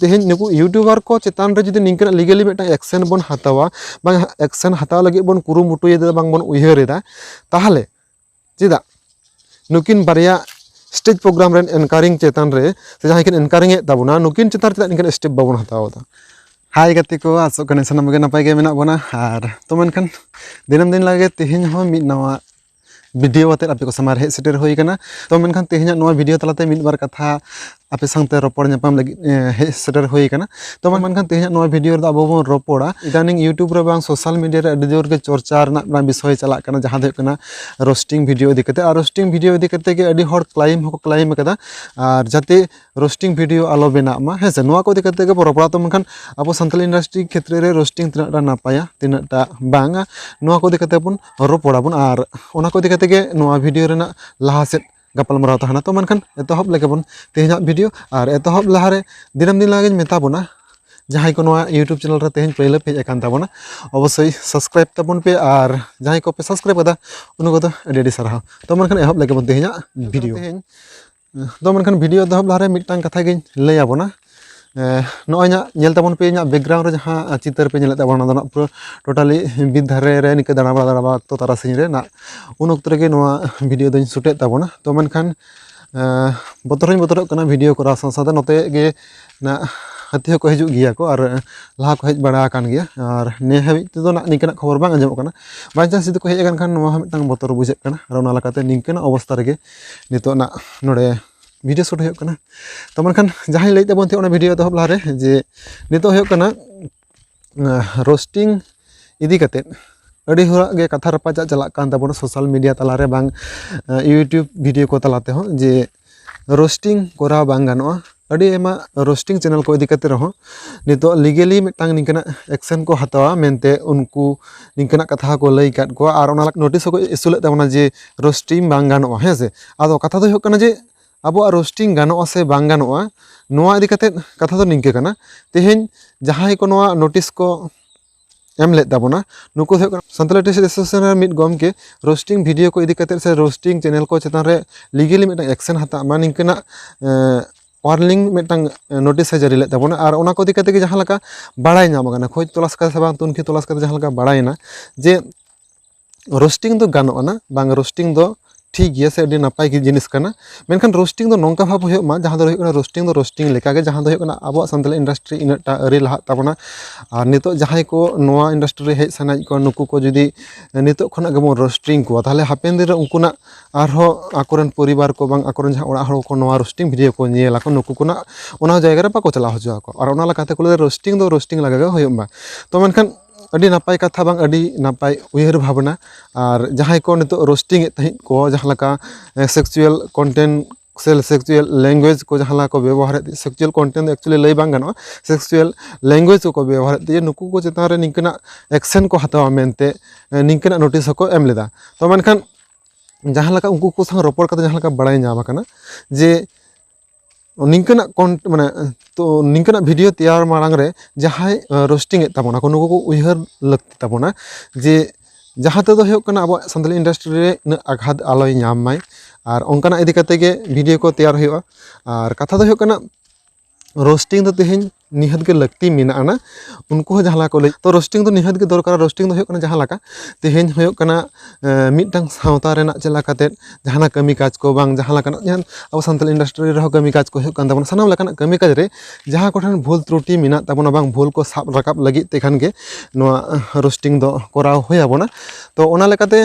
ᱛᱮᱦᱮᱧ ᱱᱩᱠᱩ ᱤᱭᱩᱴᱩᱵᱟᱨ ᱠᱚ ᱪᱮᱛᱟᱱ ᱨᱮ ᱡᱩᱫᱤ ᱱᱤᱝᱠᱟᱹᱱᱟᱜ ᱞᱤᱜᱟᱞᱤ ᱢᱤᱫᱴᱟᱝ ᱮᱠᱥᱮᱱ ᱵᱚᱱ ᱦᱟᱛᱟᱣᱟ ᱵᱟᱝ ᱮᱠᱥᱮᱱ ᱦᱟᱛᱟᱣ ᱞᱟᱹᱜᱤᱫ ᱵᱚᱱ ᱠᱩᱨᱩᱢᱩᱴᱩᱭᱮᱫᱟ ᱵᱟᱝ ᱵᱚᱱ ᱩᱭᱦᱟᱹᱨᱮᱫᱟ ᱛᱟᱦᱚᱞᱮ ᱪᱮᱫᱟᱜ ᱱᱩᱠᱤᱱ ᱵᱟᱨᱭᱟ ᱥᱴᱮᱡᱽ ᱯᱨᱳᱜᱨᱟᱢ ᱨᱮᱱ ᱮᱱᱠᱟᱨᱤᱝ ᱪᱮᱛᱟᱱ ᱨᱮ ᱥᱮ ᱡᱟᱦᱟᱸᱭ ᱠᱤᱱ ᱮᱱᱠᱟᱨᱤᱝ ᱮᱫ ᱛᱟᱵᱚᱱᱟ ᱱᱩᱠᱤᱱ ᱪᱮᱛᱟᱱ ᱨᱮ ᱪᱮᱫᱟᱜ ᱱᱤᱝᱠᱟᱱ ᱥᱴᱮᱯ ᱵᱟᱵᱚᱱ ᱦᱟᱛᱟᱣ ᱮᱫᱟ ᱦᱟᱭ ᱜᱟᱛᱮ ᱠᱚ ᱟᱥᱚᱜ ᱠᱟᱹᱱᱟᱹᱧ ᱥᱟᱱᱟᱢ ᱜᱮ ᱱᱟᱯᱟᱭ ᱜᱮ ᱢᱮᱱᱟᱜ ᱵᱚᱱᱟ ᱟᱨ ᱛᱚ ᱢᱮᱱᱠᱷᱟᱱ ᱫᱤᱱᱟᱹᱢ ᱫᱤᱱ ᱞᱟᱜᱮ ᱛᱮᱦᱮᱧ ᱦᱚᱸ ᱢᱤᱫ ᱱᱟᱣᱟ ᱵᱷᱤᱰᱤᱭᱳ ᱟᱛᱮ ᱟᱯᱮ ᱠᱚ ᱥᱟᱢᱟᱝ ᱨᱮ ᱦᱮᱡ ᱥᱮᱴᱮᱨ ᱦᱩᱭ ᱟᱠᱟᱱᱟ ᱛᱚ ᱢᱮᱱᱠᱷᱟᱱ ᱛᱮᱦᱮᱧᱟᱜ ᱱᱚᱣᱟ ᱵᱷᱤᱰᱤᱭᱳ ᱛᱟᱞᱟᱛᱮ ᱢᱤᱫ ᱵᱟᱨ ᱠᱟᱛᱷᱟ ᱟᱯᱮ ᱥᱟᱶᱛᱮ ᱨᱚᱯᱚᱲ ᱧᱟᱯᱟᱢ ᱞᱟᱹᱜᱤᱫ ᱦᱮᱡ ᱥᱮᱴᱮᱨ ᱦᱩᱭ ᱟᱠᱟᱱᱟ ᱛᱚ ᱢᱮᱱᱠᱷᱟᱱ ᱛᱮᱦᱮᱧᱟᱜ ᱱᱚᱣᱟ ᱵᱷᱤᱰᱤᱭᱳ ᱨᱮᱫᱚ ᱟᱵᱚ ᱵᱚᱱ ᱨᱚᱯᱚᱲᱟ ᱤᱫᱟᱱᱤᱝ ᱤᱭᱩᱴᱩᱵᱽ ᱨᱮ ᱵᱟᱝ ᱥᱳᱥᱟᱞ ᱢᱤᱰᱤᱭᱟ ᱨᱮ ᱟᱹᱰᱤ ᱡᱳᱨ ᱜᱮ ᱪᱚᱨᱪᱟ ᱨᱮᱱᱟᱜ ᱢᱤᱫᱴᱟᱝ ᱵᱤᱥᱚᱭ ᱪᱟᱞᱟᱜ ᱠᱟᱱᱟ ᱡᱟᱦᱟᱸ ᱫᱚ ᱦᱩᱭᱩᱜ ᱠᱟᱱᱟ ᱨᱳᱥᱴᱤᱝ ᱵᱷᱤᱰᱤᱭᱳ ᱤᱫᱤ ᱠᱟᱛᱮ ᱟᱨ ᱨᱳᱥᱴᱤᱝ ᱵᱷᱤᱰᱤᱭᱳ ᱤᱫᱤ ᱠᱟᱛᱮ ᱜᱮ ᱟᱹᱰᱤ ᱦᱚᱲ ᱠᱞᱟᱭᱤᱢ ᱦᱚᱸᱠᱚ ᱠᱞᱟᱭᱤᱢ ᱟᱠᱟᱫᱟ ᱟᱨ ᱡᱟᱛᱮ ᱨᱳᱥᱴᱤᱝ ᱵᱷᱤᱰᱤᱭᱳ ᱟᱞᱚ ᱵᱮᱱᱟᱜ ᱢᱟ ᱦᱮᱸ ᱥᱮ ᱱᱚᱣᱟ ᱠᱚ ᱤᱫᱤ ᱠᱟᱛᱮ ᱜᱮᱵᱚ ᱨᱚᱯᱚᱲᱟ ᱛᱚ ᱢᱮᱱᱠᱷᱟᱱ ᱟᱵᱚ ᱥᱟᱱᱛᱟᱞᱤ ᱤᱱᱰᱟᱥᱴᱨᱤ ᱠᱷᱮᱛᱨᱮ ᱨᱮ ᱨᱳᱥᱴᱤᱝ ᱛᱤᱱᱟᱹᱜ ᱴᱟ ᱱᱟᱯᱟᱭᱟ ᱛᱤᱱᱟᱹᱜ ᱴᱟ ᱵᱟᱝᱟ ᱱᱚᱣᱟ ᱠᱚ ᱤᱫᱤ ᱠᱟᱛᱮ ᱵᱚᱱ ᱨᱚᱯᱚᱲᱟ ᱵᱚᱱ ᱟᱨ ᱚᱱᱟ ᱠᱚ ᱤᱫᱤ ᱠᱟᱛᱮ ᱜᱮ ᱱᱚᱣᱟ ᱵᱷᱤᱰᱤᱭᱳ ᱨᱮᱱᱟᱜ ᱞᱟᱦᱟ ᱥᱮᱫ ᱜᱟᱯᱟᱞᱢᱟᱨᱟᱣ ᱛᱟᱦᱮᱱᱟ ᱛᱚ ᱢᱮᱱᱠᱷᱟᱱ ᱮᱛᱚᱦᱚᱵ ᱞᱮᱜᱮ ᱵᱚᱱ ᱛᱮᱦᱮᱧᱟᱜ ᱵᱷᱤᱰᱤᱭᱳ ᱟᱨ ᱮᱛᱚᱦᱚᱵ ᱞᱟᱦᱟ ᱨᱮ ᱫᱤᱱᱟᱹᱢ ᱫᱤᱱ ᱞᱮᱠᱟᱜᱤᱧ ᱢᱮᱛᱟ ᱵᱚᱱᱟ ᱡᱟᱦᱟᱸᱭ ᱠᱚ ᱱᱚᱣᱟ ᱤᱭᱩᱴᱩᱵᱽ ᱪᱮᱱᱮᱞ ᱨᱮ ᱛᱮᱦᱮᱧ ᱯᱳᱭᱞᱳ ᱯᱮ ᱦᱮᱡ ᱟᱠᱟᱱ ᱛᱟᱵᱚᱱᱟ ᱚᱵᱚᱥᱥᱳᱭ ᱥᱟᱵᱥᱠᱨᱟᱭᱤᱵᱽ ᱛᱟᱵᱚᱱ ᱯᱮ ᱟᱨ ᱡᱟᱦᱟᱸᱭ ᱠᱚᱯᱮ ᱥᱟᱵᱥᱠᱨᱟᱭᱤᱵᱽ ᱠᱟᱫᱟ ᱩᱱᱠᱩ ᱠᱚᱫᱚ ᱟᱹᱰᱤ ᱟᱹᱰᱤ ᱥᱟᱨᱦᱟᱣ ᱛᱚ ᱢᱮᱱᱠᱷᱟᱱ ᱮᱦᱚᱵ ᱞᱮᱜᱮ ᱵᱚᱱ ᱛᱮᱦᱮᱧᱟᱜ ᱵᱷᱤᱰᱤᱭᱳ ᱫᱚ ᱢᱮᱱᱠᱷᱟᱱ ᱵᱷᱤᱰᱤᱭᱳ ᱮᱛᱚᱦᱚᱵ ᱞᱟᱦᱟᱨᱮ ᱢᱤᱫᱴᱟᱝ ᱠᱟᱛᱷᱟ ᱜᱤᱧ ᱞᱟᱹᱭ ᱟᱵᱚᱱᱟ ᱱᱚᱜᱼᱚᱭ ᱧᱟᱜ ᱧᱮᱞ ᱛᱟᱵᱚᱱ ᱯᱮ ᱤᱧᱟᱹᱜ ᱵᱮᱠᱜᱨᱟᱣᱩᱱᱰ ᱨᱮ ᱡᱟᱦᱟᱸ ᱪᱤᱛᱟᱹᱨ ᱯᱮ ᱧᱮᱞᱮᱫ ᱛᱟᱵᱚᱱᱟ ᱚᱱᱟ ᱫᱚ ᱱᱟᱜ ᱯᱩᱨᱟᱹ ᱴᱳᱴᱟᱞᱤ ᱵᱤᱨ ᱫᱷᱟᱨᱮ ᱨᱮ ᱱᱤᱝᱠᱟᱹ ᱫᱟᱬᱟ ᱵᱟᱲᱟ ᱫᱟᱬᱟ ᱵᱟᱲᱟ ᱚᱠᱛᱚ ᱛᱟᱨᱟᱥᱤᱧ ᱨᱮ ᱱᱟᱜ ᱩᱱ ᱚᱠᱛᱚ ᱨᱮᱜᱮ ᱱᱚᱣᱟ ᱵᱷᱤᱰᱤᱭᱳ ᱫᱚᱧ ᱥᱩᱴᱮᱫ ᱛᱟᱵᱚᱱᱟ ᱛᱚ ᱢᱮᱱᱠᱷᱟᱱ ᱵᱚᱛᱚᱨ ᱦᱚᱸᱧ ᱵᱚᱛᱚᱨᱚᱜ ᱠᱟᱱᱟ ᱵᱷᱤᱰᱤᱭᱳ ᱠᱚᱨᱟᱣ ᱥᱟᱶ ᱥᱟᱶᱛᱮ ᱱᱚᱛᱮ ᱜᱮ ᱱᱟᱜ ᱦᱟᱹᱛᱤ ᱦᱚᱸᱠᱚ ᱦᱤᱡᱩᱜ ᱜᱮᱭᱟ ᱠᱚ ᱟᱨ ᱞᱟᱦᱟ ᱠᱚ ᱦᱮᱡ ᱵᱟᱲᱟ ᱟᱠᱟᱱ ᱜᱮᱭᱟ ᱟᱨ ᱱᱤᱭᱟᱹ ᱦᱟᱹᱵᱤᱡ ᱛᱮᱫᱚ ᱱᱟᱜ ᱱᱤᱝᱠᱟᱹᱱᱟᱜ ᱠᱷᱚᱵᱚᱨ ᱵᱟᱝ ᱟᱸᱡᱚᱢᱚᱜ ᱠᱟᱱᱟ ᱵᱟᱭᱪᱟᱱᱥ ᱡᱩᱫᱤ ᱠᱚ ᱦᱮᱡ ᱟᱠᱟᱱ ᱠᱷᱟᱱ ᱱᱚᱣᱟ ᱦᱚᱸ ᱢᱤᱫᱴᱟᱝ ᱵᱚᱛᱚᱨ ᱵᱩᱡᱷᱟᱹᱜ ᱠᱟᱱᱟ ᱟᱨ ᱚᱱᱟ ᱞᱮᱠᱟᱛᱮ ᱱᱤᱝᱠᱟᱹᱱᱟᱜ ᱚᱵᱚᱥᱛᱷᱟ ᱨᱮᱜᱮ ᱱᱤᱛᱚᱜ ᱱᱟᱜ ᱱᱚᱰᱮ ᱵᱷᱤᱰᱤᱭᱳ ᱥᱩᱴ ᱦᱩᱭᱩᱜ ᱠᱟᱱᱟ ᱛᱚ ᱢᱮᱱᱠᱷᱟᱱ ᱡᱟᱦᱟᱸᱧ ᱞᱟᱹᱭᱮᱫ ᱛᱟᱵᱚᱱ ᱛᱟᱦᱮᱸᱫ ᱚᱱᱟ ᱵᱷᱤᱰᱤᱭᱳ ᱮᱛᱚᱦᱚᱵ ᱞᱟᱦᱟᱨᱮ ᱡᱮ ᱱᱤᱛᱚᱜ ᱦᱩᱭᱩᱜ ᱠᱟᱱᱟ ᱨᱳᱥᱴᱤᱝ ᱤᱫᱤ ᱠᱟᱛᱮᱫ ᱟᱹᱰᱤ ᱦᱚᱲᱟᱜ ᱜᱮ ᱠᱟᱛᱷᱟ ᱨᱟᱯᱟᱪᱟᱜ ᱪᱟᱞᱟᱜ ᱠᱟᱱ ᱛᱟᱵᱚᱱᱟ ᱥᱳᱥᱟᱞ ᱢᱤᱰᱤᱭᱟ ᱛᱟᱞᱟᱨᱮ ᱵᱟᱝ ᱤᱭᱩᱴᱩᱵᱽ ᱵᱷᱤᱰᱤᱭᱳ ᱠᱚ ᱛᱟᱞᱟ ᱛᱮᱦᱚᱸ ᱡᱮ ᱨᱳᱥᱴᱤᱝ ᱠᱚᱨᱟᱣ ᱵᱟᱝ ᱜᱟᱱᱚᱜᱼᱟ ᱟᱹᱰᱤ ᱟᱭᱢᱟ ᱨᱳᱥᱴᱤᱝ ᱪᱮᱱᱮᱞ ᱠᱚ ᱤᱫᱤ ᱠᱟᱛᱮ ᱨᱮᱦᱚᱸ ᱱᱤᱛᱚᱜ ᱞᱤᱜᱮᱞᱤ ᱢᱤᱫᱴᱟᱝ ᱱᱤᱝᱠᱟᱹᱱᱟᱜ ᱮᱠᱥᱮᱱ ᱠᱚ ᱦᱟᱛᱟᱣᱟ ᱢᱮᱱᱛᱮ ᱩᱱᱠᱩ ᱱᱤᱝᱠᱟᱹᱱᱟᱜ ᱠᱟᱛᱷᱟ ᱦᱚᱸᱠᱚ ᱞᱟᱹᱭ ᱠᱟᱫ ᱠᱚᱣᱟ ᱟᱨ ᱚᱱᱟ ᱱᱳᱴᱤᱥ ᱦᱚᱸᱠᱚ ᱤᱥᱩ ᱞᱮᱜ ᱛᱟᱵᱚᱱᱟ ᱡᱮ ᱨᱳᱥᱴᱤᱝ ᱵᱟᱝ ᱜᱟᱱᱚᱜᱼᱟ ᱦᱮᱸ ᱥᱮ ᱟᱫᱚ ᱠᱟᱛᱷᱟ ᱫᱚ ᱦᱩᱭᱩᱜ ᱠᱟᱱᱟ ᱡᱮ ᱟᱵᱚᱣᱟᱜ ᱨᱳᱥᱴᱤᱝ ᱜᱟᱱᱚᱜᱼᱟ ᱥᱮ ᱵᱟᱝ ᱜᱟᱱᱚᱜᱼᱟ ᱱᱚᱣᱟ ᱤᱫᱤ ᱠᱟᱛᱮ ᱠᱟᱛᱷᱟ ᱫᱚ ᱱᱤᱝᱠᱟᱹ ᱠᱟᱱᱟ ᱛᱮᱦᱮᱧ ᱡᱟᱦᱟᱸᱭ ᱠᱚ ᱱᱚᱣᱟ ᱱᱳᱴᱤᱥ ᱠᱚ ᱮᱢ ᱞᱮᱫ ᱛᱟᱵᱚᱱᱟ ᱱᱩᱠᱩ ᱫᱚ ᱦᱩᱭᱩᱜ ᱠᱟᱱᱟ ᱥᱟᱱᱛᱟᱞᱤ ᱴᱤᱪᱟᱨ ᱮᱥᱳᱥᱤᱭᱮᱥᱚᱱ ᱨᱮᱱ ᱢᱤᱫ ᱜᱚᱢᱠᱮ ᱨᱳᱥᱴᱤᱝ ᱵᱷᱤᱰᱭᱳ ᱠᱚ ᱤᱫᱤ ᱠᱟᱛᱮ ᱥᱮ ᱨᱳᱥᱴᱤᱝ ᱪᱮᱱᱮᱞ ᱠᱚ ᱪᱮᱛᱟᱱ ᱨᱮ ᱞᱤᱜᱮᱞᱤ ᱢᱤᱫᱴᱟᱝ ᱮᱠᱥᱮᱱ ᱦᱟᱛᱟᱜ ᱢᱟ ᱱᱤᱝᱠᱟᱹᱱᱟᱜ ᱚᱣᱟᱨᱱᱤᱝ ᱢᱤᱫᱴᱟᱝ ᱱᱳᱴᱤᱥ ᱮ ᱡᱟᱹᱨᱤ ᱞᱮᱫ ᱛᱟᱵᱚᱱᱟ ᱟᱨ ᱚᱱᱟ ᱠᱚ ᱤᱫᱤ ᱠᱟᱛᱮ ᱜᱮ ᱡᱟᱦᱟᱸ ᱞᱮᱠᱟ ᱵᱟᱲᱟᱭ ᱧᱟᱢ ᱠᱟᱱᱟ ᱠᱷᱚᱡᱽ ᱛᱚᱞᱟᱥ ᱠᱟᱛᱮ ᱥᱮ ᱵᱟᱝ ᱛᱩᱱᱠᱷᱤ ᱛᱚᱞᱟᱥ ᱠᱟᱛᱮ ᱡᱟᱦᱟᱸ ᱞᱮᱠᱟ ᱵᱟᱲᱟᱭᱮᱱᱟ ᱡᱮ ᱨᱳᱥᱴᱤᱝ ᱫᱚ ᱜᱟᱱᱚᱜ ᱟᱱᱟ ᱵᱟᱝ ᱨᱳᱥᱴᱤᱝ ᱫᱚ ᱴᱷᱤᱠ ᱜᱮᱭᱟ ᱥᱮ ᱟᱹᱰᱤ ᱱᱟᱯᱟᱭ ᱜᱮ ᱡᱤᱱᱤᱥ ᱠᱟᱱᱟ ᱢᱮᱱᱠᱷᱟᱱ ᱨᱳᱥᱴᱤᱝ ᱫᱚ ᱱᱚᱝᱠᱟ ᱵᱷᱟᱵᱽ ᱦᱩᱭᱩᱜ ᱢᱟ ᱡᱟᱦᱟᱸ ᱫᱚ ᱦᱩᱭᱩᱜ ᱠᱟᱱᱟ ᱨᱳᱥᱴᱤᱝ ᱫᱚ ᱨᱳᱥᱴᱤᱝ ᱞᱮᱠᱟᱜᱮ ᱡᱟᱦᱟᱸ ᱫᱚ ᱦᱩᱭᱩᱜ ᱠᱟᱱᱟ ᱟᱵᱚᱣᱟᱜ ᱥᱟᱱᱛᱟᱲᱤ ᱤᱱᱰᱟᱥᱴᱨᱤ ᱤᱱᱟᱹᱜ ᱴᱟ ᱟᱹᱣᱨᱤ ᱞᱟᱦᱟᱜ ᱛᱟᱵᱚᱱᱟ ᱟᱨ ᱱᱤᱛᱚᱜ ᱡᱟᱦᱟᱸᱭ ᱠᱚ ᱱᱚᱣᱟ ᱤᱱᱰᱟᱥᱴᱨᱤ ᱨᱮ ᱦᱮᱡ ᱥᱟᱱᱟᱭᱮᱫ ᱠᱚᱣᱟ ᱱᱩᱠᱩ ᱠᱚ ᱡᱩᱫᱤ ᱱᱤᱛᱚᱜ ᱠᱷᱚᱱᱟᱜ ᱜᱮᱵᱚᱱ ᱨᱳᱥᱴᱤᱝ ᱠᱚᱣᱟ ᱛᱟᱦᱚᱞᱮ ᱦᱟᱯᱮᱱ ᱫᱤᱱᱨᱮ ᱩᱱᱠᱩᱱᱟᱜ ᱟᱨᱦᱚᱸ ᱟᱠᱚᱨᱮᱱ ᱯᱚᱨᱤᱵᱟᱨ ᱠᱚ ᱵᱟᱝ ᱟᱠᱚᱨᱮᱱ ᱡᱟᱦᱟᱸᱭ ᱚᱲᱟᱜ ᱦᱚᱲ ᱠᱚ ᱱᱚᱣᱟ ᱨᱳᱥᱴᱤᱝ ᱵᱷᱤᱰᱭᱳ ᱠᱚ ᱧᱮᱞ ᱟᱠᱚ ᱱᱩᱠᱩ ᱠᱚ ᱱᱟᱦᱟᱜ ᱚᱱᱟ ᱡᱟᱭᱜᱟ ᱨᱮ ᱵᱟᱠᱚ ᱪᱟᱞᱟᱣ ᱦᱚᱪᱚ ᱟᱠᱚᱣᱟ ᱟᱨ ᱚᱱᱟ ᱞᱮᱠᱟᱛᱮ ᱠᱚ ᱞᱟᱹᱭᱟ ᱨᱳᱥᱴᱤᱝ ᱫᱚ ᱨᱳᱥᱴᱤᱝ ᱞᱮᱠᱟᱜᱮ ᱦᱩᱭᱩᱜ ᱢᱟ ᱛᱚ ᱢᱮᱱᱠᱷᱟᱱ ᱟᱹᱰᱤ ᱱᱟᱯᱟᱭ ᱠᱟᱛᱷᱟ ᱵᱟᱝ ᱟᱹᱰᱤ ᱱᱟᱯᱟᱭ ᱩᱭᱦᱟᱹᱨ ᱵᱷᱟᱵᱽᱱᱟ ᱟᱨ ᱡᱟᱦᱟᱸᱭ ᱠᱚ ᱱᱤᱛᱚᱜ ᱨᱳᱥᱴᱤᱝ ᱮᱫ ᱛᱟᱦᱮᱸᱫ ᱠᱚ ᱡᱟᱦᱟᱸ ᱞᱮᱠᱟ ᱥᱮᱠᱪᱩᱭᱮᱞ ᱠᱚᱱᱴᱮᱱᱴ ᱥᱮ ᱥᱮᱠᱪᱩᱭᱮᱞ ᱞᱮᱝᱜᱩᱭᱮᱡᱽ ᱠᱚ ᱡᱟᱦᱟᱸ ᱞᱮᱠᱟ ᱠᱚ ᱵᱮᱵᱚᱦᱟᱨᱮᱫ ᱛᱟᱦᱮᱸᱫ ᱥᱮᱠᱪᱩᱭᱮᱞ ᱠᱚᱱᱴᱮᱱᱴ ᱫᱚ ᱮᱠᱪᱩᱭᱮᱞᱤ ᱞᱟᱹᱭ ᱵᱟᱝ ᱜᱟᱱᱚᱜᱼᱟ ᱥᱮᱠᱪᱩᱭᱮᱞ ᱞᱮᱝᱜᱩᱭᱮᱡᱽ ᱠᱚᱠᱚ ᱵᱮᱵᱚᱦᱟᱨᱮᱫ ᱛᱟᱦᱮᱸᱫ ᱱᱩᱠᱩ ᱠᱚ ᱪᱮᱛᱟᱱ ᱨᱮ ᱱᱤᱝᱠᱟᱹᱱᱟᱜ ᱮᱠᱥᱮᱱ ᱠᱚ ᱦᱟᱛᱟᱣᱟ ᱢᱮᱱᱛᱮ ᱱᱤᱝᱠᱟᱹᱱᱟᱜ ᱱᱳᱴᱤᱥ ᱦᱚᱸᱠᱚ ᱮᱢ ᱞᱮᱫᱟ ᱛᱚ ᱢᱮᱱᱠᱷᱟᱱ ᱡᱟᱦᱟᱸ ᱞᱮᱠᱟ ᱩᱱᱠᱩ ᱠᱚ ᱥᱟᱶ ᱨᱚᱯᱚᱲ ᱠᱟᱛᱮᱫ ᱡᱟᱦᱟᱸ ᱞᱮᱠᱟ ᱵᱟᱲᱟᱭ ᱧᱟᱢ ᱠᱟᱱᱟ ᱡᱮ ᱱᱤᱝᱠᱟᱹᱱᱟᱜ ᱠᱚᱱ ᱢᱟᱱᱮ ᱛᱚ ᱱᱤᱝᱠᱟᱹᱱᱟᱜ ᱵᱷᱤᱰᱭᱳ ᱛᱮᱭᱟᱨ ᱢᱟᱲᱟᱝ ᱨᱮ ᱡᱟᱦᱟᱸᱭ ᱨᱳᱥᱴᱤᱝ ᱮᱫ ᱛᱟᱵᱚᱱᱟ ᱠᱚ ᱱᱩᱠᱩ ᱠᱚ ᱩᱭᱦᱟᱹᱨ ᱞᱟᱹᱠᱛᱤ ᱛᱟᱵᱚᱱᱟ ᱡᱮ ᱡᱟᱦᱟᱸ ᱛᱮᱫᱚ ᱦᱩᱭᱩᱜ ᱠᱟᱱᱟ ᱟᱵᱚᱣᱟᱜ ᱥᱟᱱᱛᱟᱲᱤ ᱤᱱᱰᱟᱥᱴᱨᱤ ᱨᱮ ᱩᱱᱟᱹᱜ ᱟᱜᱷᱟᱛ ᱟᱞᱚᱭ ᱧᱟᱢ ᱢᱟᱭ ᱟᱨ ᱚᱱᱠᱟᱱᱟᱜ ᱤᱫᱤ ᱠᱟᱛᱮ ᱜᱮ ᱵᱷᱤᱰᱭᱳ ᱠᱚ ᱛᱮᱭᱟᱨ ᱦᱩᱭᱩᱜᱼᱟ ᱟᱨ ᱠᱟᱛᱷᱟ ᱫᱚ ᱦᱩᱭᱩᱜ ᱠᱟᱱᱟ ᱨᱳᱥᱴᱤᱝ ᱫᱚ ᱛᱮᱦᱮᱧ ᱱᱤᱦᱟᱹᱛ ᱜᱮ ᱞᱟᱹᱠᱛᱤ ᱢᱮᱱᱟᱜ ᱟᱱᱟ ᱩᱱᱠᱩ ᱦᱚᱸ ᱡᱟᱦᱟᱸ ᱞᱮᱠᱟ ᱠᱚ ᱞᱟᱹᱭ ᱛᱚ ᱨᱳᱥᱴᱤᱝ ᱫᱚ ᱱᱤᱦᱟᱹᱛ ᱜᱮ ᱫᱚᱨᱠᱟᱨᱟ ᱨᱳᱥᱴᱤᱝ ᱫᱚ ᱦᱩᱭᱩᱜ ᱠᱟᱱᱟ ᱡᱟᱦᱟᱸ ᱞᱮᱠᱟ ᱛᱮᱦᱮᱧ ᱦᱩᱭᱩᱜ ᱠᱟᱱᱟ ᱢᱤᱫᱴᱟᱝ ᱥᱟᱶᱛᱟ ᱨᱮᱱᱟᱜ ᱪᱮᱫ ᱞᱮᱠᱟ ᱠᱟᱛᱮᱜ ᱡᱟᱦᱟᱱᱟᱜ ᱠᱟᱹᱢᱤ ᱠᱟᱡᱽ ᱠᱚ ᱵᱟᱝ ᱡᱟᱦᱟᱸ ᱞᱮᱠᱟᱱᱟᱜ ᱡᱟᱦᱟᱱ ᱟᱵᱚ ᱥᱟᱱᱛᱟᱲᱤ ᱤᱱᱰᱟᱥᱴᱨᱤ ᱨᱮᱦᱚᱸ ᱠᱟᱹᱢᱤ ᱠᱟᱡᱽ ᱠᱚ ᱦᱩᱭᱩᱜ ᱠᱟᱱ ᱛᱟᱵᱚᱱᱟ ᱥᱟᱱᱟᱢ ᱞᱮᱠᱟᱱᱟᱜ ᱠᱟᱹᱢᱤ ᱠᱟᱡᱽ ᱨᱮ ᱡᱟᱦᱟᱸ ᱠᱚᱴᱷᱮᱱ ᱵᱷᱩᱞ ᱛᱨᱩᱴᱤ ᱢᱮᱱᱟᱜ ᱛᱟᱵᱚᱱᱟ ᱵᱟᱝ ᱵᱷᱩᱞ ᱠᱚ ᱥᱟᱵ ᱨᱟᱠᱟᱵ ᱞᱟᱹᱜᱤᱫ ᱛᱮᱠᱷᱟᱱ ᱜᱮ ᱱᱚᱣᱟ ᱨᱳᱥᱴᱤᱝ ᱫᱚ ᱠᱚᱨᱟᱣ ᱦᱩᱭ ᱟᱵᱚᱱᱟ ᱛᱚ ᱚᱱᱟ ᱞᱮᱠᱟᱛᱮ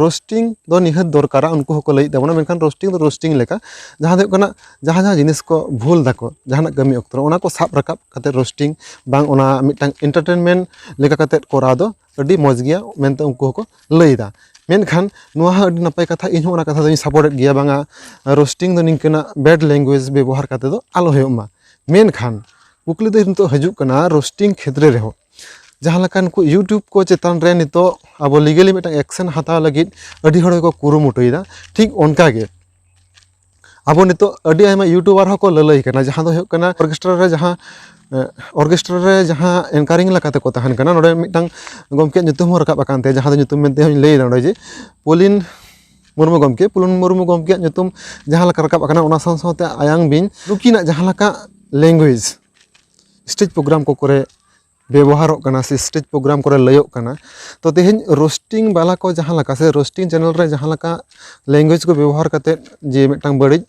ᱨᱳᱥᱴᱤᱝ ᱫᱚ ᱱᱤᱦᱟᱹᱛ ᱫᱚᱨᱠᱟᱨᱟ ᱩᱱᱠᱩ ᱦᱚᱸᱠᱚ ᱞᱟᱹᱭᱮᱜ ᱛᱟᱵᱚᱱᱟ ᱢᱮᱱᱠᱷᱟᱱ ᱨᱳᱥᱴᱤᱝ ᱫᱚ ᱨᱳᱥᱴᱤᱝ ᱞᱮᱠᱟ ᱡᱟᱦᱟᱸ ᱫᱚ ᱦᱩᱭᱩᱜ ᱠᱟᱱᱟ ᱡᱟᱦᱟᱸ ᱡᱟᱦᱟᱸ ᱡᱤᱱᱤᱥ ᱠᱚ ᱵᱷᱩᱞ ᱫᱟᱠᱚ ᱡᱟᱦᱟᱱᱟᱜ ᱠᱟᱹᱢᱤ ᱚᱠᱛᱚ ᱨᱮ ᱚᱱᱟ ᱠᱚ ᱥᱟᱵ ᱨᱟᱠᱟᱵ ᱠᱟᱛᱮ ᱨᱳᱥᱴᱤᱝ ᱵᱟᱝ ᱚᱱᱟ ᱢᱤᱫᱴᱟᱝ ᱤᱱᱴᱟᱨᱴᱮᱱᱢᱮᱱ ᱞᱮᱠᱟ ᱠᱟᱛᱮ ᱠᱚᱨᱟᱣ ᱫᱚ ᱟᱹᱰᱤ ᱢᱚᱡᱽ ᱜᱮᱭᱟ ᱢᱮᱱᱛᱮ ᱩᱱᱠᱩ ᱦᱚᱸᱠᱚ ᱞᱟᱹᱭᱫᱟ ᱢᱮᱱᱠᱷᱟᱱ ᱱᱚᱣᱟ ᱦᱚᱸ ᱟᱹᱰᱤ ᱱᱟᱯᱟᱭ ᱠᱟᱛᱷᱟ ᱤᱧ ᱦᱚᱸ ᱚᱱᱟ ᱠᱟᱛᱷᱟ ᱫᱚᱧ ᱥᱟᱯᱳᱨᱴᱮᱜ ᱜᱮᱭᱟ ᱵᱟᱝᱟ ᱨᱳᱥᱴᱤᱝ ᱫᱚ ᱱᱤᱝᱠᱟᱹᱱᱟᱜ ᱵᱮᱰ ᱞᱮᱝᱜᱩᱭᱮᱡᱽ ᱵᱮᱵᱚᱦᱟᱨ ᱠᱟᱛᱮ ᱫᱚ ᱟᱞᱚ ᱦᱩᱭᱩᱜ ᱢᱟ ᱢᱮᱱᱠᱷᱟᱱ ᱠᱩᱠᱞᱤ ᱫᱚ ᱱᱤᱛᱚᱜ ᱦᱤᱡᱩᱜ ᱠᱟᱱᱟ ᱨᱳᱥᱴᱤᱝ ᱠᱷᱮᱛᱨᱮ ᱨᱮᱦᱚᱸ ᱡᱟᱦᱟᱸ ᱞᱮᱠᱟ ᱱᱩᱠᱩ ᱤᱭᱩᱴᱩᱵᱽ ᱠᱚ ᱪᱮᱛᱟᱱ ᱨᱮ ᱱᱤᱛᱚᱜ ᱟᱵᱚ ᱞᱤᱜᱮᱞᱤ ᱢᱤᱫᱴᱟᱝ ᱮᱠᱥᱮᱱ ᱦᱟᱛᱟᱣ ᱞᱟᱹᱜᱤᱫ ᱟᱹᱰᱤ ᱦᱚᱲ ᱜᱮᱠᱚ ᱠᱩᱨᱩᱢᱩᱴᱩᱭᱮᱫᱟ ᱴᱷᱤᱠ ᱚᱱᱠᱟᱜᱮ ᱟᱵᱚ ᱱᱤᱛᱚᱜ ᱟᱹᱰᱤ ᱟᱭᱢᱟ ᱤᱭᱩᱴᱩᱵᱟᱨ ᱦᱚᱸᱠᱚ ᱞᱟᱹᱞᱟᱹᱭ ᱠᱟᱱᱟ ᱡᱟᱦᱟᱸ ᱫᱚ ᱦᱩᱭᱩᱜ ᱠᱟᱱᱟ ᱚᱨᱠᱮᱥᱴᱨᱟ ᱨᱮ ᱡᱟᱦᱟᱸ ᱚᱨᱠᱮᱥᱴᱨᱟ ᱨᱮ ᱡᱟᱦᱟᱸ ᱮᱝᱠᱟᱨᱤᱝ ᱞᱮᱠᱟ ᱛᱮᱠᱚ ᱛᱟᱦᱮᱱ ᱠᱟᱱᱟ ᱱᱚᱰᱮ ᱢᱤᱫᱴᱟᱝ ᱜᱚᱢᱠᱮᱭᱟᱜ ᱧᱩᱛᱩᱢ ᱦᱚᱸ ᱨᱟᱠᱟᱵ ᱟᱠᱟᱱ ᱛᱟᱭᱟ ᱡᱟᱦᱟᱸ ᱫᱚ ᱧᱩᱛᱩᱢ ᱢᱮᱱᱛᱮ ᱦᱚᱸᱧ ᱞᱟᱹᱭᱫᱟ ᱱᱚᱰᱮ ᱡᱮ ᱯᱚᱞᱤᱱ ᱢᱩᱨᱢᱩ ᱜᱚᱢᱠᱮ ᱯᱩᱞᱚᱱ ᱢᱩᱨᱢᱩ ᱜᱚᱢᱠᱮᱭᱟᱜ ᱧᱩᱛᱩᱢ ᱡᱟᱦᱟᱸ ᱞᱮᱠᱟ ᱨᱟᱠᱟᱵ ᱟᱠᱟᱱᱟ ᱚᱱᱟ ᱥᱟᱶ ᱥᱟᱶᱛᱮ ᱟᱭᱟᱝ ᱵᱤᱧ ᱱᱩᱠᱤᱱᱟᱜ ᱡᱟᱦᱟᱸ ᱞᱮᱠᱟ ᱞᱮᱝᱜᱩᱭᱮᱡᱽ ᱥᱴᱮᱡᱽ ᱯᱨᱳᱜᱨᱟᱢ ᱠᱚ ᱠᱚᱨᱮ ᱵᱮᱵᱚᱦᱟᱨᱚᱜ ᱠᱟᱱᱟ ᱥᱮ ᱥᱴᱮᱡᱽ ᱯᱨᱳᱜᱨᱟᱢ ᱠᱚᱨᱮ ᱞᱟᱹᱭᱚᱜ ᱠᱟᱱᱟ ᱛᱚ ᱛᱮᱦᱮᱧ ᱨᱳᱥᱴᱤᱝ ᱵᱟᱞᱟ ᱠᱚ ᱡᱟᱦᱟᱸ ᱞᱮᱠᱟ ᱥᱮ ᱨᱳᱥᱴᱤᱝ ᱪᱮᱱᱮᱞ ᱨᱮ ᱡᱟᱦᱟᱸ ᱞᱮᱠᱟ ᱞᱮᱝᱜᱩᱭᱮᱡᱽ ᱠᱚ ᱵᱮᱵᱚᱦᱟᱨ ᱠᱟᱛᱮᱫ ᱡᱮ ᱢᱤᱫᱴᱟᱝ ᱵᱟᱹᱲᱤᱡ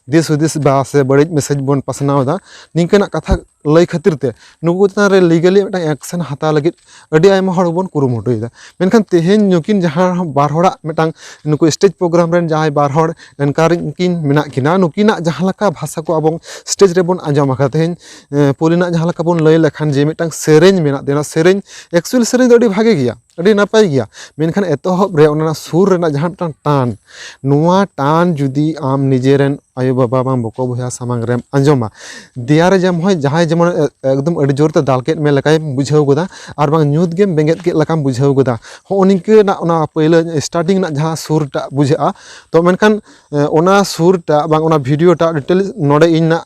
ᱫᱤᱥ ᱦᱩᱫᱤᱥ ᱵᱟ ᱥᱮ ᱵᱟᱹᱲᱤᱡ ᱢᱮᱥᱮᱡᱽ ᱵᱚᱱ ᱯᱟᱥᱱᱟᱣ ᱮᱫᱟ ᱱᱤᱝᱠᱟᱹᱱᱟᱜ ᱠᱟᱛᱷᱟ ᱞᱟᱹᱭ ᱠᱷᱟᱹᱛᱤᱨ ᱛᱮ ᱱᱩᱠᱩ ᱪᱮᱛᱟᱱ ᱨᱮ ᱞᱤᱜᱟᱞᱤ ᱢᱤᱫᱴᱟᱝ ᱮᱠᱥᱮᱱ ᱦᱟᱛᱟᱣ ᱞᱟᱹᱜᱤᱫ ᱟᱹᱰᱤ ᱟᱭᱢᱟ ᱦᱚᱲ ᱵᱚᱱ ᱠᱩᱨᱩᱢᱩᱴᱩᱭᱮᱫᱟ ᱢᱮᱱᱠᱷᱟᱱ ᱛᱮᱦᱮᱧ ᱱᱩᱠᱤᱱ ᱡᱟᱦᱟᱸ ᱵᱟᱨ ᱦᱚᱲᱟᱜ ᱢᱤᱫᱴᱟᱝ ᱱᱩᱠᱩ ᱥᱴᱮᱡᱽ ᱯᱨᱳᱜᱨᱟᱢ ᱨᱮᱱ ᱡᱟᱦᱟᱸᱭ ᱵᱟᱨ ᱦᱚᱲ ᱮᱝᱠᱟᱨᱤᱝ ᱠᱤᱱ ᱢᱮᱱᱟᱜ ᱠᱤᱱᱟ ᱱᱩᱠᱤᱱᱟᱜ ᱡᱟᱦᱟᱸ ᱞᱮᱠᱟ ᱵᱷᱟᱥᱟ ᱠᱚ ᱟᱵᱚ ᱥᱴᱮᱡᱽ ᱨᱮᱵᱚᱱ ᱟᱸᱡᱚᱢ ᱟᱠᱟᱫᱟ ᱛᱮᱦᱮᱧ ᱯᱳᱭᱞᱳ ᱨᱮᱱᱟᱜ ᱡᱟᱦᱟᱸ ᱞᱮᱠᱟ ᱵᱚᱱ ᱞᱟᱹᱭ ᱞᱮᱠᱷᱟᱱ ᱡᱮ ᱢᱤᱫᱴᱟᱝ ᱥᱮᱨᱮᱧ ᱢᱮᱱᱟᱜ ᱛᱟᱭᱟ ᱚᱱᱟ ᱥᱮᱨᱮᱧ ᱮᱠᱪᱩᱭᱮᱞ ᱥᱮᱨᱮᱧ ᱫᱚ ᱟᱹᱰᱤ ᱵᱷᱟᱜᱮ ᱜᱮᱭᱟ ᱟᱹᱰᱤ ᱱᱟᱯᱟᱭ ᱜᱮᱭᱟ ᱢᱮᱱᱠᱷᱟᱱ ᱮᱛᱚᱦᱚᱵ ᱨᱮ ᱚᱱᱟ ᱥᱩᱨ ᱨᱮᱱᱟᱜ ᱡᱟᱦᱟᱸ ᱢᱤᱫᱴᱟᱝ ᱴᱟᱱ ᱱᱚᱣᱟ ᱴᱟᱱ ᱡᱩᱫᱤ ᱟᱢ ᱱᱤᱡᱮ ᱨᱮᱱ ᱟᱭᱳ ᱵᱟᱵᱟ ᱵᱟᱝ ᱵᱚᱠᱚ ᱵᱚᱭᱦᱟ ᱥᱟᱢᱟᱝ ᱨᱮᱢ ᱟᱸᱡᱚᱢᱟ ᱫᱮᱭᱟ ᱨᱮ ᱡᱮᱢᱚᱱ ᱦᱚᱸᱭ ᱡᱟᱦᱟᱸᱭ ᱡᱮᱢᱚᱱ ᱮᱠᱫᱚᱢ ᱟᱹᱰᱤ ᱡᱳᱨ ᱛᱮ ᱫᱟᱞ ᱠᱮᱫ ᱢᱮ ᱞᱮᱠᱟᱭ ᱵᱩᱡᱷᱟᱹᱣ ᱜᱚᱫᱟ ᱟᱨ ᱵᱟᱝ ᱧᱩᱛ ᱜᱮᱢ ᱵᱮᱸᱜᱮᱫ ᱠᱮᱫ ᱞᱮᱠᱟᱢ ᱵᱩᱡᱷᱟᱹᱣ ᱜᱚᱫᱟ ᱦᱚᱸᱜᱼᱚ ᱱᱤᱝᱠᱟᱹᱱᱟᱜ ᱚᱱᱟ ᱯᱳᱭᱞᱳ ᱥᱴᱟᱨᱴᱤᱝ ᱨᱮᱱᱟᱜ ᱡᱟᱦᱟᱸ ᱥᱩᱨ ᱴᱟᱜ ᱵᱩᱡᱷᱟᱹᱜᱼᱟ ᱛᱚ ᱢᱮᱱᱠᱷᱟᱱ ᱚᱱᱟ ᱥᱩᱨ ᱴᱟᱜ ᱵᱟᱝ ᱚᱱᱟ ᱵᱷᱤᱰᱭᱳ ᱴᱟᱜ ᱰᱤᱴᱮᱞᱥ ᱱᱚᱰᱮ ᱤᱧ ᱱᱟᱜ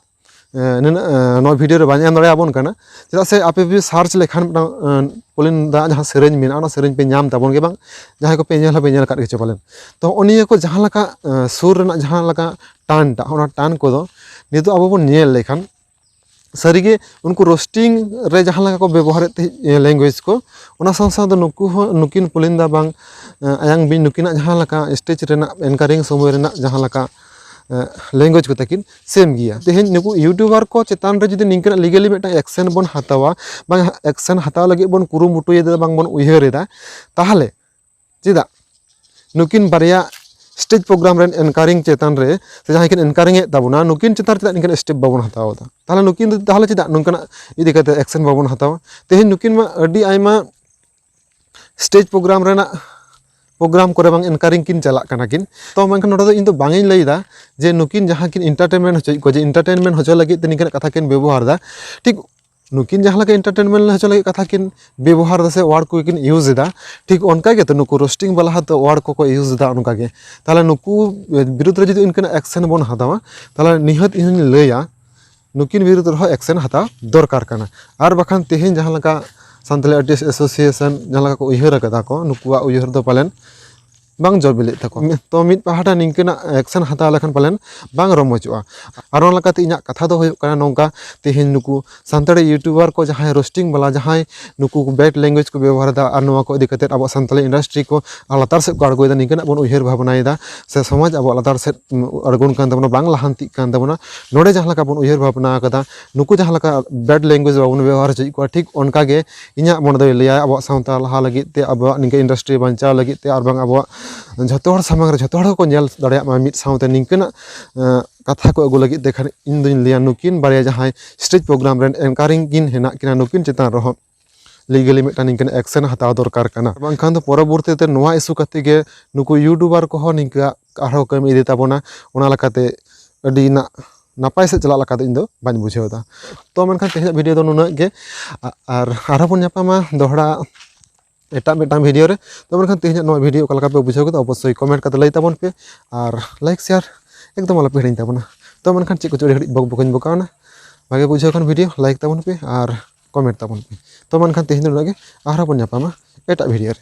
ᱱᱤᱱᱟᱹᱜ ᱱᱚᱣᱟ ᱵᱷᱤᱰᱤᱭᱳ ᱨᱮ ᱵᱟᱹᱧ ᱮᱢ ᱫᱟᱲᱮᱭᱟᱵᱚᱱ ᱠᱟᱱᱟ ᱪᱮᱫᱟᱜ ᱥᱮ ᱟᱯᱮ ᱯᱮ ᱥᱟᱨᱪ ᱞᱮᱠᱷᱟᱱ ᱢᱤᱫᱴᱟᱝ ᱯᱚᱞᱤᱱ ᱫᱟᱜ ᱡᱟᱦᱟᱸ ᱥᱮᱨᱮᱧ ᱢᱮᱱᱟᱜᱼᱟ ᱚᱱᱟ ᱥᱮᱨᱮᱧ ᱯᱮ ᱧᱟᱢ ᱛᱟᱵᱚᱱ ᱜᱮ ᱵᱟᱝ ᱡᱟᱦᱟᱸᱭ ᱠᱚᱯᱮ ᱧᱮᱞ ᱦᱚᱸᱯᱮ ᱧᱮᱞ ᱠᱟᱜ ᱜᱮᱪᱚ ᱯᱟᱞᱮᱱ ᱛᱚ ᱦᱚᱸᱜᱼᱚ ᱱᱤᱭᱟᱹ ᱠᱚ ᱡᱟᱦᱟᱸ ᱞᱮᱠᱟ ᱥᱩᱨ ᱨᱮᱱᱟᱜ ᱡᱟᱦᱟᱸ ᱞᱮᱠᱟ ᱴᱟᱱ ᱴᱟᱜ ᱚᱱᱟ ᱴᱟᱱ ᱠᱚᱫᱚ ᱱᱤᱛᱚᱜ ᱟᱵᱚ ᱵᱚᱱ ᱧᱮᱞ ᱞᱮᱠᱷᱟᱱ ᱥᱟᱹᱨᱤᱜᱮ ᱩᱱᱠᱩ ᱨᱳᱥᱴᱤᱝ ᱨᱮ ᱡᱟᱦᱟᱸ ᱞᱮᱠᱟ ᱠᱚ ᱵᱮᱵᱚᱦᱟᱨᱮᱫ ᱛᱟᱦᱮᱸᱫ ᱞᱮᱝᱜᱩᱭᱮᱡᱽ ᱠᱚ ᱚᱱᱟ ᱥᱟᱶ ᱥᱟᱶᱛᱮ ᱱᱩᱠᱩ ᱦᱚᱸ ᱱᱩᱠᱤᱱ ᱯᱚᱞᱤᱱᱫᱟ ᱵᱟᱝ ᱟᱭᱟᱝ ᱵᱤᱱ ᱱᱩᱠᱤᱱᱟᱜ ᱡᱟᱦᱟᱸ ᱞᱮᱠᱟ ᱥᱴᱮᱡᱽ ᱨᱮᱱᱟᱜ ᱮᱝᱠᱟᱨᱤᱝ ᱥᱚᱢᱚᱭ ᱨᱮᱱᱟᱜ ᱡᱟᱦᱟᱸ ᱞᱮᱠᱟ ᱞᱮᱝᱜᱩᱭᱮᱡᱽ ᱠᱚ ᱛᱟᱹᱠᱤᱱ ᱥᱮᱢ ᱜᱮᱭᱟ ᱛᱮᱦᱮᱧ ᱱᱩᱠᱩ ᱤᱭᱩᱴᱩᱵᱟᱨ ᱠᱚ ᱪᱮᱛᱟᱱ ᱨᱮ ᱡᱩᱫᱤ ᱱᱤᱝᱠᱟᱹᱱᱟᱜ ᱞᱤᱜᱮᱞᱤ ᱢᱤᱫᱴᱟᱝ ᱮᱠᱥᱮᱱ ᱵᱚᱱ ᱦᱟᱛᱟᱣᱟ ᱵᱟᱝ ᱮᱠᱥᱮᱱ ᱦᱟᱛᱟᱣ ᱞᱟᱹᱜᱤᱫ ᱵᱚᱱ ᱠᱩᱨᱩᱢᱩᱴᱩᱭᱮᱫᱟ ᱵᱟᱝ ᱵᱚᱱ ᱩᱭᱦᱟᱹᱨᱮᱫᱟ ᱛᱟᱦᱚᱞᱮ ᱪᱮᱫᱟᱜ ᱱᱩᱠᱤᱱ ᱵᱟᱨᱭᱟ ᱥᱴᱮᱡᱽ ᱯᱨᱳᱜᱨᱟᱢ ᱨᱮᱱ ᱮᱱᱠᱟᱨᱤᱝ ᱪᱮᱛᱟᱱ ᱨᱮ ᱥᱮ ᱡᱟᱦᱟᱸᱭ ᱠᱤᱱ ᱮᱱᱠᱟᱨᱤᱝ ᱮᱫ ᱛᱟᱵᱚᱱᱟ ᱱᱩᱠᱤᱱ ᱪᱮᱛᱟᱱ ᱨᱮ ᱪᱮᱫᱟᱜ ᱱᱤᱝᱠᱟᱱ ᱥᱴᱮᱯ ᱵᱟᱵᱚᱱ ᱦᱟᱛᱟᱣ ᱮᱫᱟ ᱛᱟᱦᱚᱞᱮ ᱱᱩᱠᱤᱱ ᱫᱚ ᱛᱟᱦᱚᱞᱮ ᱪᱮᱫᱟᱜ ᱱᱚᱝᱠᱟᱱᱟᱜ ᱤᱫᱤ ᱠᱟᱛᱮ ᱮᱠᱥᱮᱱ ᱵᱟᱵᱚᱱ ᱦᱟᱛᱟᱣᱟ ᱛᱮᱦᱮᱧ ᱱᱩᱠᱤᱱ ᱢᱟ ᱟᱹᱰᱤ ᱟᱭᱢᱟ ᱥᱴᱮᱡᱽ ᱯᱨᱳᱜᱨᱟᱢ ᱨᱮᱱᱟᱜ ᱯᱨᱳᱜᱨᱟᱢ ᱠᱚᱨᱮ ᱵᱟᱝ ᱮᱱᱠᱟᱨᱤᱝ ᱠᱤᱱ ᱪᱟᱞᱟᱜ ᱠᱟᱱᱟ ᱠᱤᱱ ᱛᱚ ᱢᱮᱱᱠᱷᱟᱱ ᱱᱚᱰᱮ ᱫᱚ ᱤᱧ ᱫᱚ ᱵᱟᱝ ᱤᱧ ᱞᱟᱹᱭᱫᱟ ᱡᱮ ᱱᱩᱠᱤᱱ ᱡᱟᱦᱟᱸ ᱠᱤᱱ ᱤᱱᱴᱟᱨᱴᱮᱱᱢᱮᱱᱴ ᱦᱚᱪᱚᱭᱮᱫ ᱠᱚᱣᱟ ᱡᱮ ᱤᱱᱴᱟᱨᱴᱮᱱᱢᱮᱱᱴ ᱦᱚᱪᱚ ᱞᱟᱹᱜᱤᱫ ᱛᱮ ᱱᱤᱝᱠᱟᱱᱟᱜ ᱠᱟᱛᱷᱟ ᱠᱤᱱ ᱵᱮᱵᱚᱦᱟᱨᱫᱟ ᱴᱷᱤᱠ ᱱᱩᱠᱤᱱ ᱡᱟᱦᱟᱸ ᱞᱮᱠᱟ ᱤᱱᱴᱟᱨᱴᱮᱱᱢᱮᱱᱴ ᱦᱚᱪᱚ ᱞᱟᱹᱜᱤᱫ ᱠᱟᱛᱷᱟ ᱠᱤᱱ ᱵᱮᱵᱚᱦᱟᱨ ᱫᱟ ᱥᱮ ᱳᱣᱟᱨᱰ ᱠᱚᱠᱤᱱ ᱤᱭᱩᱡᱽ ᱮᱫᱟ ᱴᱷᱤᱠ ᱚᱱᱠᱟ ᱜᱮᱛᱚ ᱱᱩᱠᱩ ᱨᱳᱥᱴᱤᱝ ᱵᱟᱞᱟ ᱦᱚᱸᱛᱚ ᱳᱣᱟᱨᱰ ᱠᱚᱠᱚ ᱤᱭᱩᱡᱽ ᱮᱫᱟ ᱚᱱᱠᱟ ᱜᱮ ᱛᱟᱦᱚᱞᱮ ᱱᱩᱠᱩ ᱵᱤᱨᱩᱫᱽ ᱨᱮ ᱡᱩᱫᱤ ᱤᱱᱠᱟᱹᱱᱟᱜ ᱮᱠᱥᱮᱱ ᱵᱚᱱ ᱦᱟᱛᱟᱣᱟ ᱛᱟᱦᱚᱞᱮ ᱱᱤᱦᱟᱹᱛ ᱤᱧ ᱦᱚᱧ ᱞᱟᱹᱭᱟ ᱱᱩᱠᱤᱱ ᱵᱤᱨᱩᱫᱽ ᱨᱮᱦᱚᱸ ᱮᱠᱥᱮᱱ ᱦᱟᱛᱟᱣ ᱫᱚᱨᱠᱟᱨ ᱠᱟᱱᱟ ᱟᱨ ᱵᱟᱠᱷᱟᱱ ᱛᱮᱦᱮᱧ ᱡᱟᱦᱟᱸ ᱞᱮᱠᱟ ᱥᱟᱱᱛᱟᱲᱤ ᱟᱨᱴᱤᱥᱴ ᱮᱥᱳᱥᱤᱭᱮᱥᱚᱱ ᱡᱟᱦᱟᱸ ᱞᱮᱠᱟ ᱠᱚ ᱩᱭᱦᱟᱹᱨ ᱟᱠᱟᱫᱟ ᱠᱚ ᱱᱩᱠᱩᱣᱟᱜ ᱩᱭᱦᱟᱹᱨ ᱫᱚ ᱯᱟᱞᱮᱱ ᱵᱟᱝ ᱡᱚ ᱵᱤᱞᱤᱜ ᱛᱟᱠᱚ ᱛᱚ ᱢᱤᱫ ᱯᱟᱦᱴᱟ ᱱᱤᱝᱠᱟᱹᱱᱟᱜ ᱮᱠᱥᱮᱱ ᱦᱟᱛᱟᱣ ᱞᱮᱠᱷᱟᱱ ᱯᱟᱞᱮᱱ ᱵᱟᱝ ᱨᱚᱢᱚᱡᱚᱜᱼᱟ ᱟᱨ ᱚᱱᱟ ᱞᱮᱠᱟᱛᱮ ᱤᱧᱟᱹᱜ ᱠᱟᱛᱷᱟ ᱫᱚ ᱦᱩᱭᱩᱜ ᱠᱟᱱᱟ ᱱᱚᱝᱠᱟ ᱛᱮᱦᱮᱧ ᱱᱩᱠᱩ ᱥᱟᱱᱛᱟᱲᱤ ᱤᱭᱩᱴᱩᱵᱟᱨ ᱠᱚ ᱡᱟᱦᱟᱸᱭ ᱨᱳᱥᱴᱤᱝ ᱵᱟᱞᱟ ᱡᱟᱦᱟᱸᱭ ᱱᱩᱠᱩ ᱵᱮᱰ ᱞᱮᱝᱜᱩᱭᱮᱡᱽ ᱠᱚ ᱵᱮᱵᱚᱦᱟᱨᱫᱟ ᱟᱨ ᱱᱚᱣᱟ ᱠᱚ ᱤᱫᱤ ᱠᱟᱛᱮᱫ ᱟᱵᱚᱣᱟᱜ ᱥᱟᱱᱛᱟᱲᱤ ᱤᱱᱰᱟᱥᱴᱨᱤ ᱠᱚ ᱞᱟᱛᱟᱨ ᱥᱮᱫ ᱠᱚ ᱟᱬᱜᱚᱭᱮᱫᱟ ᱱᱤᱝᱠᱟᱱᱟᱜ ᱵᱚᱱ ᱩᱭᱦᱟᱹᱨ ᱵᱷᱟᱵᱽᱱᱟᱭᱮᱫᱟ ᱥᱮ ᱥᱚᱢᱟᱡᱽ ᱟᱵᱚᱣᱟᱜ ᱞᱟᱛᱟᱨ ᱥᱮᱫ ᱟᱬᱜᱚᱱ ᱠᱟᱱ ᱛᱟᱵᱚᱱᱟ ᱵᱟᱝ ᱞᱟᱦᱟᱱᱛᱤᱜ ᱠᱟᱱ ᱛᱟᱵᱚᱱᱟ ᱱᱚᱰᱮ ᱡᱟᱦᱟᱸ ᱞᱮᱠᱟ ᱵᱚᱱ ᱩᱭᱦᱟᱹᱨ ᱵᱷᱟᱵᱽᱱᱟ ᱠᱟᱫᱟ ᱱᱩᱠᱩ ᱡᱟᱦᱟᱸ ᱞᱮᱠᱟ ᱵᱮᱰ ᱞᱮᱝᱜᱩᱭᱮᱡᱽ ᱵᱟᱵᱚᱱ ᱵᱮᱵᱚᱦᱟᱨ ᱦᱚᱪᱚᱭᱮᱫ ᱠᱚᱣᱟ ᱴᱷᱤᱠ ᱚᱱᱠᱟᱜᱮ ᱤᱧᱟᱹᱜ ᱢᱚᱱᱮ ᱫᱚᱭ ᱞᱟᱹᱭᱟ ᱟᱵᱚᱣᱟᱜ ᱥᱟᱶᱛᱟ ᱞᱟᱦᱟ ᱞᱟᱹᱜᱤᱫ ᱛᱮ ᱟᱵᱚᱣᱟᱜ ᱱᱤᱝᱠᱟᱹ ᱤᱱᱰᱟᱥᱴᱨᱤ ᱵᱟᱧᱪᱟᱣ ᱞᱟᱹᱜᱤᱫ ᱛᱮ ᱟᱨ ᱵᱟᱝ ᱟᱵᱚᱣᱟᱜ ᱡᱷᱚᱛᱚ ᱦᱚᱲ ᱥᱟᱢᱟᱝ ᱨᱮ ᱡᱷᱚᱛᱚ ᱦᱚᱲ ᱜᱮᱠᱚ ᱧᱮᱞ ᱫᱟᱲᱮᱭᱟᱜ ᱢᱟ ᱢᱤᱫ ᱥᱟᱶᱛᱮ ᱱᱤᱝᱠᱟᱹᱱᱟᱜ ᱠᱟᱛᱷᱟ ᱠᱚ ᱟᱹᱜᱩ ᱞᱟᱹᱜᱤᱫ ᱛᱮ ᱠᱷᱟᱱ ᱤᱧ ᱫᱩᱧ ᱞᱟᱹᱭᱟ ᱱᱩᱠᱤᱱ ᱵᱟᱨᱭᱟ ᱡᱟᱦᱟᱸᱭ ᱥᱴᱮᱡᱽ ᱯᱨᱳᱜᱨᱟᱢ ᱨᱮᱱ ᱮᱝᱠᱟᱨᱤᱝ ᱠᱤᱱ ᱦᱮᱱᱟᱜ ᱠᱤᱱᱟ ᱱᱩᱠᱤᱱ ᱪᱮᱛᱟᱱ ᱨᱮᱦᱚᱸ ᱞᱤᱜᱟᱹᱞᱤ ᱢᱤᱫᱴᱟᱱ ᱱᱤᱝᱠᱟᱹᱱ ᱮᱠᱥᱮᱱ ᱦᱟᱛᱟᱣ ᱫᱚᱨᱠᱟᱨ ᱠᱟᱱᱟ ᱵᱟᱝᱠᱷᱟᱱ ᱫᱚ ᱯᱚᱨᱚᱵᱚᱨᱛᱤ ᱛᱮ ᱱᱚᱣᱟ ᱤᱥᱩ ᱠᱟᱛᱮ ᱜᱮ ᱱᱩᱠᱩ ᱤᱭᱩᱴᱩᱵᱟᱨ ᱠᱚᱦᱚᱸ ᱱᱤᱝᱠᱟᱹ ᱟᱨᱦᱚᱸ ᱠᱟᱹᱢᱤ ᱤᱫᱤ ᱛᱟᱵᱚᱱᱟ ᱚᱱᱟ ᱞᱮᱠᱟᱛᱮ ᱟᱹᱰᱤ ᱱᱟᱜ ᱱᱟᱯᱟᱭ ᱥᱮᱫ ᱪᱟᱞᱟᱜ ᱞᱮᱠᱟ ᱫᱚ ᱤᱧ ᱫᱚ ᱵᱟᱹᱧ ᱵᱩᱡᱷᱟᱹᱣ ᱮᱫᱟ ᱛᱚ ᱢᱮᱱᱠᱷᱟᱱ ᱛᱮᱦᱮᱧᱟᱜ ᱵᱷᱤᱰᱤᱭᱳ ᱫᱚ ᱱᱩᱱᱟᱹᱜ ᱜᱮ ᱟᱨ ᱟᱨᱦᱚᱸ ᱵᱚᱱ ᱧᱟᱯᱟᱢᱟ ᱫᱚᱦᱲᱟ ᱮᱴᱟᱜ ᱢᱤᱫᱴᱟᱝ ᱵᱷᱤᱰᱤᱭᱳ ᱨᱮ ᱛᱚ ᱢᱮᱱᱠᱷᱟᱱ ᱛᱮᱦᱮᱧᱟᱜ ᱱᱚᱣᱟ ᱵᱷᱤᱰᱤᱭᱳ ᱚᱠᱟ ᱞᱮᱠᱟ ᱯᱮ ᱵᱩᱡᱷᱟᱹᱣ ᱠᱮᱫᱟ ᱚᱵᱚᱥᱥᱳᱭ ᱠᱚᱢᱮᱱᱴ ᱠᱟᱛᱮ ᱞᱟᱹᱭ ᱛᱟᱵᱚᱱ ᱯᱮ ᱟᱨ ᱞᱟᱭᱤᱠ ᱥᱮᱭᱟᱨ ᱮᱠᱫᱚᱢ ᱟᱞᱚᱯᱮ ᱦᱤᱲᱤᱧ ᱛᱟᱵᱚᱱᱟ ᱛᱚ ᱢᱮᱱᱠᱷᱟᱱ ᱪᱮᱫ ᱠᱚᱪᱚ ᱟᱹᱰᱤ ᱜᱷᱟᱹᱲᱤᱡ ᱵᱚᱠ ᱵᱚᱠᱤᱧ ᱵᱚᱠᱟᱣᱱᱟ ᱵᱷᱟᱜᱮ ᱵᱩᱡᱷᱟᱹᱣ ᱠᱷᱟᱱ ᱵᱷᱤᱰᱤᱭᱳ ᱞᱟᱭᱤᱠ ᱛᱟᱵᱚᱱ ᱯᱮ ᱟᱨ ᱠᱚᱢᱮᱱᱴ ᱛᱟᱵᱚᱱ ᱯᱮ ᱛᱚ ᱢᱮᱱᱠᱷᱟᱱ ᱛᱮᱦᱮᱧ ᱫᱚ ᱱᱩᱱᱟᱹᱜ ᱜᱮ ᱟᱨᱦᱚᱸ ᱵᱚᱱ ᱧᱟᱯᱟᱢᱟ ᱮᱴᱟᱜ ᱵᱷᱤᱰᱤᱭᱳ ᱨᱮ